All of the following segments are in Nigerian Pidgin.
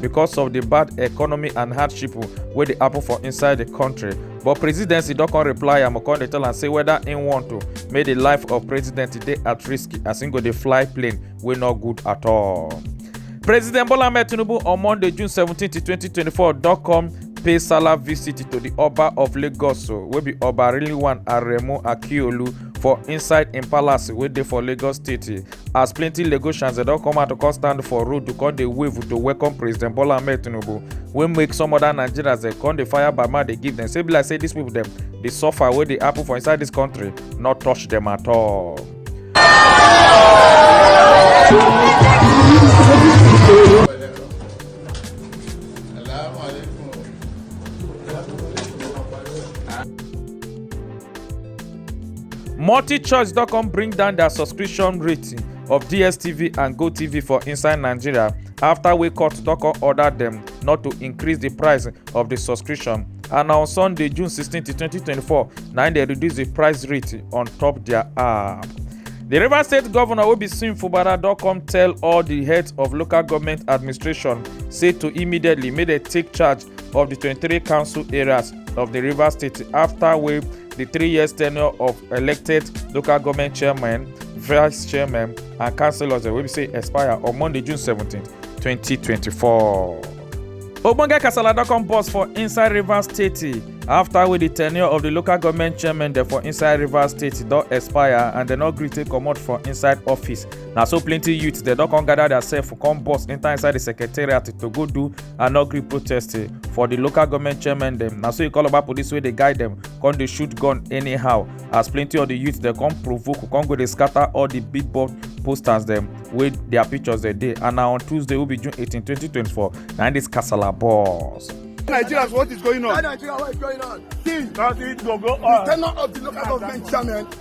because of di bad economy and hardship wey dey happen for inside di kontri but presidency don come reply am come dey tell am say whether im want to make di life of president dey at risk as im go dey fly plane wey no good at all. president bola ahmed tinubu on monday june 17 2024 don come pay salah visit to di oba of lagos wey be oba rilwan aremu akiolu for inside im palace wey dey for lagos state as plenty lagosians dem don come out to come stand for road to come dey wave to welcome president bola ahmed tinubu wey make some other nigerians dem come dey fire by mouth dey give dem say be like say dis people dem dey suffer wey dey happen for inside dis country no touch dem at all. multichoice don come bring down their subscription rating of dstv and gotv for inside nigeria after wey court don come order dem not to increase di price of di subscription and on sunday june 16 2024 na im dem reduce di price rate on top dia app di rivers state govnor obisin fubara don come tell all di heads of local goment administration say to immediately make dem take charge of di 23 council areas of di rivers state afta wey di three years tenure of elected local government chairmen vice chairmen and councillors wey be say expire on monday june 17 2024. ogbonge kasala don come burst for inside rivers state afta wey di tenure of di local government chairmen dem for inside rivers state don expire and dem no gree take comot for inside office na so plenty youths dem don come gather their sef come burst enter inside di secretariat to go do and no gree protest eh, for di local goment chairman dem na so e call about police wey dey guide dem come dey shoot gun anyhow as plenty of di youth dem come provoke come go dey scatter all di big board posters dem wey dia pictures dey dey and na on tuesday wey be june 18 2024 na im dis kasala burst. Nigerians, what is going on? Nigeria, what is going on? See, that is go go on. The tenor of the local government chairman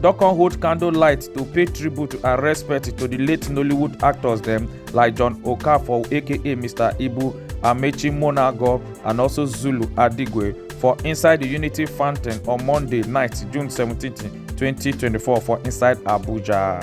don come hold candle light to pay tribute and respect to the late nollywood actors dem like john okafor aka mr ibu amechi monago and also zulu adigwe for inside the unity fountain on monday night june 17 2024 for inside abuja.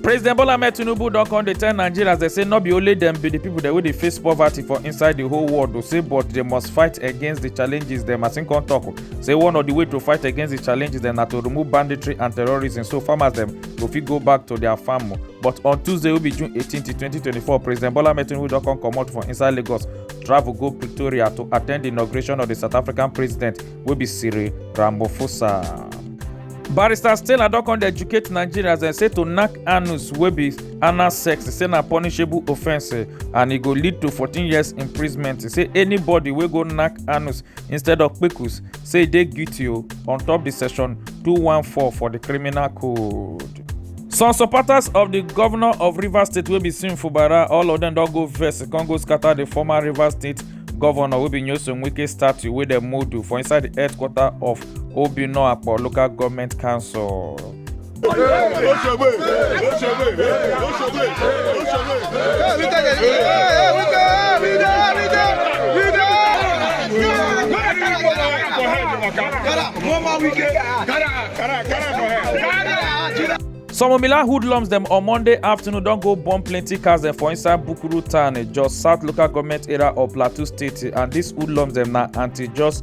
president bola ahmed tinubu don come dey tell nigerians dey say no be only dem be di pipo dem wey dey face poverty for inside di whole world o say but dem must fight against di challenges dem as im come tok say one of di way to fight against di challenges dem na to remove banditry and terrorism so farmers dem go fit go back to dia farm but on tuesday wey be june 18 2024 president bola ahmed tinubu don come comot for inside lagos travel go pretoria to attend di inauguration of di south african president wey be cyril ramaphosa. barrister stella don come dey educate nigerians dem say to knack anus wey be anal sex say na punishable offence and e go lead to 14 years imprisonment say anybody wey go knack anus instead of kpekus say e dey guilty o on top di section 214 for di criminal code. some supporters of di govnor of rivers state wey be sim fubara all of dem don go vex con go scata di former rivers state govnor wey be nyesom wike statue wey dem modu for inside di headquarter of obinno akpo local goment council. Some of Mila hoodlums dem on Monday afternoon don go burn plenty cars dem for inside Bukuru town, eh, Jos South local government area of Plateau State, eh, and these hoodlums dem na anti-Jos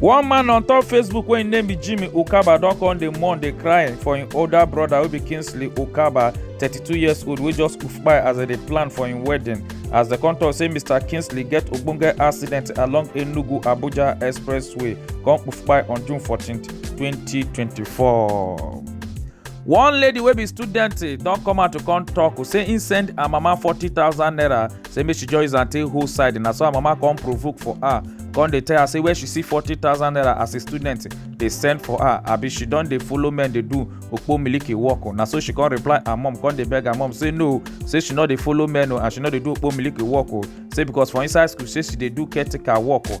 one man on top facebook wey im name be jimmy ukaba don come dey mourn dey cry for im older brother wey be kingsley ukaba thirty-two years old wey just kpai as dem dey plan for im wedding as dem come tok say mr kingsley get ogbonge accident along enugu abuja expressway come kpai on june fourteen twenty twenty-four. one lady wey be student don come out to come tok say im send her mama forty thousand naira say make she join zante whole side na so her mama come provoke for her come dey tell her say where she see forty thousand naira as a student dey send for her abi she don dey follow men dey do okpo miliki work o na so she come reply her mom come dey beg her mom say no say she no dey follow men o and she no dey do okpo miliki work o say because for inside school say she dey do caretaker work o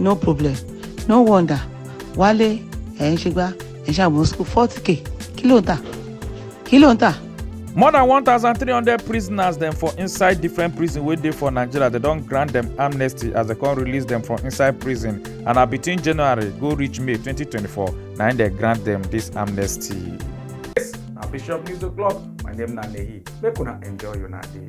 no problem no wonder wálé ẹ̀ ń ṣe gbá ẹ̀ ń ṣàmú school forty k kí ló ń tà kí ló ń tà. more than 1300 prisoners dem for inside different prison wey dey for nigeria dem don grant dem amnesty as dem come release dem from inside prison and na between january go reach may 2024 na im dem grant dem dis amnesty. yes na bishop news o'clock my name na nehi make una enjoy una day.